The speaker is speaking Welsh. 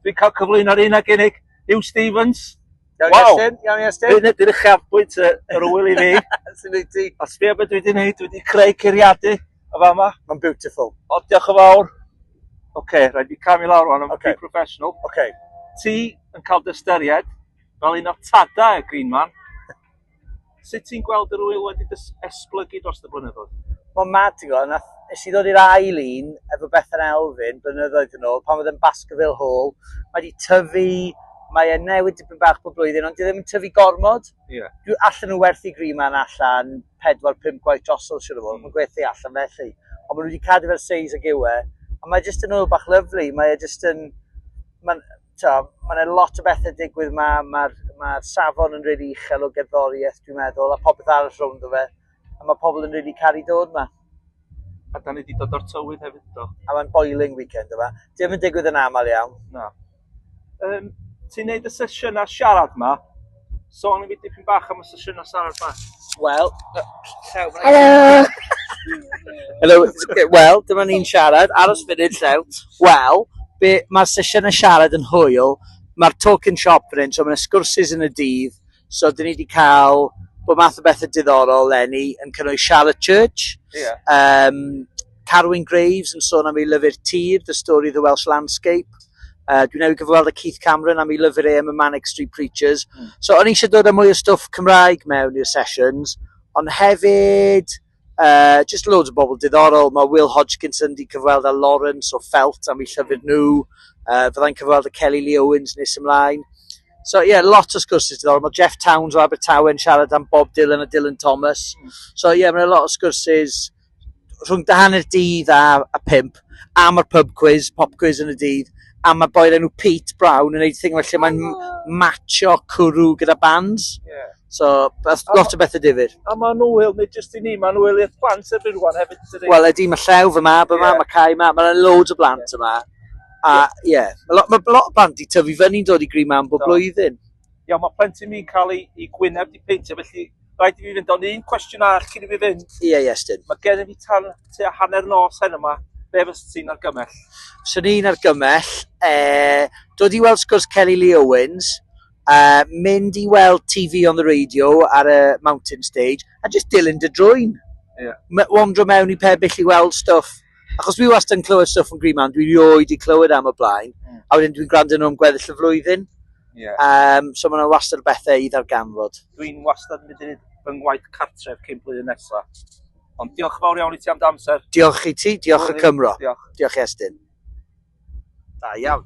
Dwi'n cael cyflwyno'r un ag unig, Huw Stephens. Iawn wow. Iestyn, iawn Iestyn. Dwi'n edrych eich afbwynt yr wyl i fi. Sy'n ei ti. A sbio beth dwi wedi gwneud, dwi wedi creu curiadu y fa yma. Mae'n beautiful. O, diolch yn fawr. Oce, okay, rhaid i cam i lawr o'n o'n okay. professional. Oce. Okay. Ti yn cael dystyried fel un o'r tadau y Green Man. Sut ti'n gweld yr ŵyl wedi esblygu dros y blynyddoedd? Mae'n mad, ti'n gwybod, nath, nes i ddod i'r ail un efo Bethan Elfyn blynyddoedd yn ôl, pan oedd yn Baskerville Hall, mae wedi tyfu, mae e newid dipyn bach bob blwyddyn, ond dwi e ddim yn tyfu gormod. Yeah. Dwi allan nhw werthu gri ma'n allan 4-5 gwaith drosol siwr o fod, mm. mae'n gwerthu allan felly. Ond maen nhw wedi cadw fel seis ag yw e, a mae jyst yn ôl bach lyflu, mae e jyst yn, mae'n mae yna lot o bethau digwydd yma, mae'r ma safon yn rili really uchel o gerddoriaeth dwi'n meddwl, a popeth arall rownd o fe, a mae pobl yn rili really caru dod yma. A da ni wedi dod o'r tywydd hefyd do. A mae'n boiling weekend yma. Dim yn digwydd yn aml iawn. Na. Um, ti'n neud y sesiynau siarad yma? Sôn i fi dipyn bach am y sesiynau Sarah ba? Wel, llew, Helo! Helo, wel, dyma ni'n siarad, aros funud llew. Wel, be, mae'r sesiynau siarad yn hwyl, mae'r talk in shop yn hyn, so mae'n sgwrsus yn y dydd, so dyn ni wedi cael bod math o bethau diddorol lenni yn cynnwys Charlotte Church, yeah. um, Carwyn Graves yn sôn am ei lyfr Tir, The Story of the Welsh Landscape. Uh, dwi newydd gyfweld â Keith Cameron am ei lyfr e am y Manic Street Preachers. Mm. So o'n eisiau dod â mwy o stwff Cymraeg mewn i'r sessions, ond hefyd, uh, just loads o bobl diddorol. Mae Will Hodgkinson wedi cyfweld â Lawrence o Felt am ei llyfr nhw. Uh, Fyddai'n cyfweld â Kelly Lee Owens nes ymlaen. So ie, yeah, lot o sgwrsys diddorol. Mae Jeff Towns o Abertawe yn siarad am Bob Dylan a Dylan Thomas. Mm. So ie, yeah, mae'n lot o sgwrsys rhwng da hanner dydd a, a pimp, am yr pub quiz, pop quiz yn y dydd, a mae boi'r enw Pete Brown yn gwneud thing felly mae'n matcho cwrw gyda bands. Yeah. So, beth, lot o bethau difyr. A mae'n wyl, nid jyst i ni, mae'n wyl i'r plant erbyn rwan hefyd. Wel, ydy, mae llew fy ma, beth yeah. mae cael ma, mae'n loads o blant yeah. yma. A, ie, yeah. mae lot, ma lot o blant i tyfu fyny dod i gri ma am bob blwyddyn. Iawn, mae plentyn mi'n cael ei, ei gwyneb di peintio, felly rhaid i fi fynd o'n un cwestiwn arall cyn i fi fynd. Ie, yeah, Iestyn. Mae gen i fi tan tua hanner nos hen yma, be fes ti'n argymell? Swn i'n argymell, e, dod i weld sgwrs Kelly Lee Owens, uh, mynd i weld TV on the radio ar y mountain stage, a just dilyn dy drwy'n. Yeah. Wandro mewn i pebyll i weld stwff. Achos fi wastad yn clywed stwff yn gryf ma'n, dwi rioed i clywed am y blaen, mm. a wedyn dwi'n gwrando nhw am gweddill y flwyddyn. Yeah. Um, so mae'n wastad o bethau i ddarganfod. Dwi'n wastad yn mynd i fy ngwaith cartref cyn blwyddyn nesaf. Ond diolch fawr iawn i ti am dy amser. Diolch i ti, diolch y Cymro. Diolch. Diolch Estyn. Da iawn.